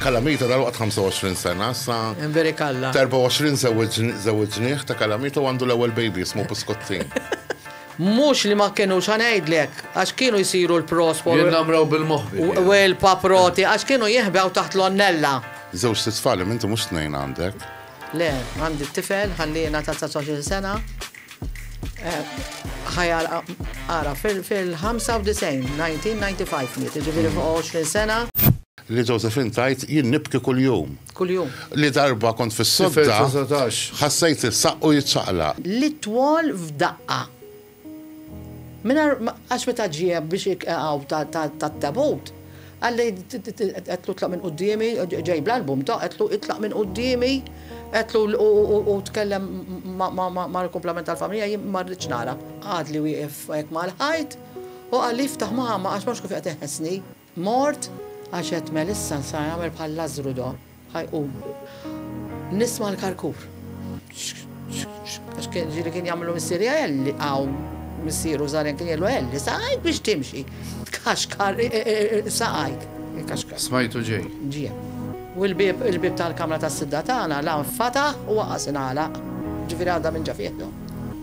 Kalamita dal-waqt 25 sena, sa. Veri kalla. 24 zewġniħ ta' Kalamita u għandu l-ewwel baby jismu Buskottin. Mux li ma kienu xanajdlek, għax kienu jisiru l-pros fuq. Namraw bil-moħbi. U l-paproti, għax kienu jihbew taħt l-onnella. Zewġ t-tfali, minti mux t-nejn għandek. Le, għandi t-tifel, għallina ta' 19 sena. Eh, ħajja għara fil-95, 1995, ġiviri fuq 20 sena. Li Josephine tgħid, Jien nibki kuljum. Kuljum. Li darba kont fis-sodda, ħassejt is-saqqu jiċċaqlaq. Li twol f'daqqa. Mingħajr ma, għax meta ġie biex iqegħu tat-tabut, qalli, għedtlu tlaq minn quddiemi, ġej bl-album ta', għedtlu itlaq minn quddiemi, għedtlu u tkellem mal-kumplament tal-familja, jien ma rridx nara. Għadli wieqef hekk mal-ħajt u qalli jiftaħ mama għax ma nafx kif qed iħessni. Mort, għax għedt Melissa nsa jagħmel bħal Lażżru do, ħa jqum. Nisma' l-karkur. Għax kien ġieli kien jagħmlu missieri Elli hawn missieru żgħar kien jgħidlu Elli saqajk biex timxi. Tkaxkar saqajk. Smajtu ġej. Ġie. U l-bieb il-bieb tal-kamra tas-sidda tagħna la nfataħ u waqas ingħalaq. Ġifieri għadha minn ġa fih do.